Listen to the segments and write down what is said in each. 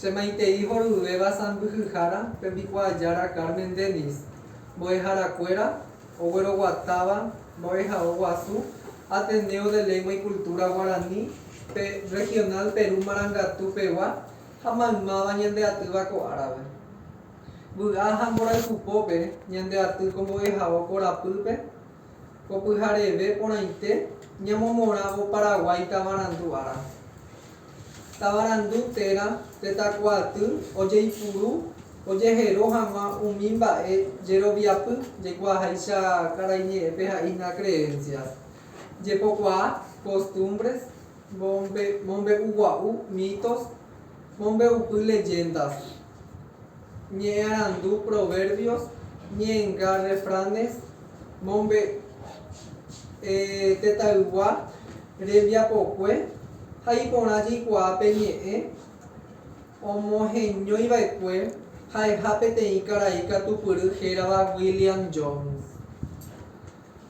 Che maitei horyvéva sãmbyhyhára tembikuaajára Carmen Denis, mbo'eharakuéra ogueroguatáva mbo'ehao guasu Ateneo de Lengua y Cultura Guarani pe Regional Perú Marangatu pegua ha maymáva ñande atýva ko árape. Vy'a ha mborayhu pópe ñande aty ko mbo'ehao korapýpe, Ko pyhareve porãite ñamomorãvo Paraguái tavarandu ára. Tavarandu térã tetakuaaty ojeipuru ojehero hag̃ua umi mba'e jeroviapy jeikuaaháicha karai ñe'ẽpe ha'ina creencias, jepokuaa, costumbres, mombe'ugua'u, mitos, mombe'upy, leyendas. Ñe'ẽarandu Proverbios, Ñe'ẽnga Refranes, Mombe'e tetãygua rembiapokue ha iporã jeikuaa pe ñe'ẽ, omoheñóiva'ekue ha'eha peteĩ karai katupyry hérava William Jones.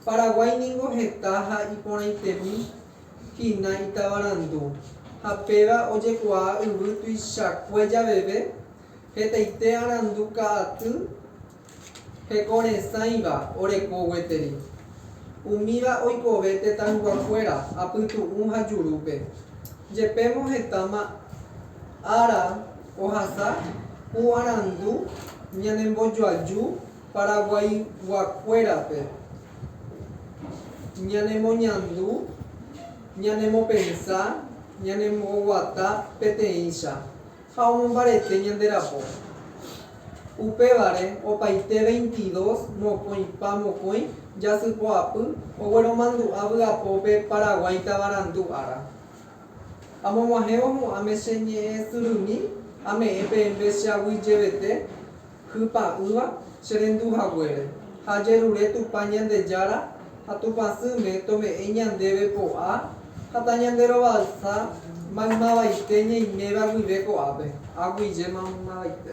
Paraguái ningo heta ha iporãitemi hína itavarandu, ha péva ojekuaa yvy tuichakue javeve, hetaite arandu ka'aty hekoresãiva oreko gueteri. Umíva oikove tetãyguakuéra apytu'ũ ha jurúpe. Jepémo hetáma ára ohasa ku arandu ñanembojoaju Paraguaiguakuérape ñanemoñandu, ñanemopensa, ñanemboguata peteĩcha ha omombarete ñande rapo. Upévare opaite veintidós mokõipa mokõi jasypoapy ogueromandu'a vy'apópe Paraguái tavarandu ára. Amog̃uahẽvo hu'ãme che ñe'ẽsyrymi ame'ẽ peẽme che aguyjevete Hypa'ỹva che rendu haguére, ha jerure Tupã Ñandejára ha Tupãsýme tome'ẽ ñandéve po'a ha tañanderovalsa maymavaite ñaiméva guive ko'ápe, aguyje maymavaite.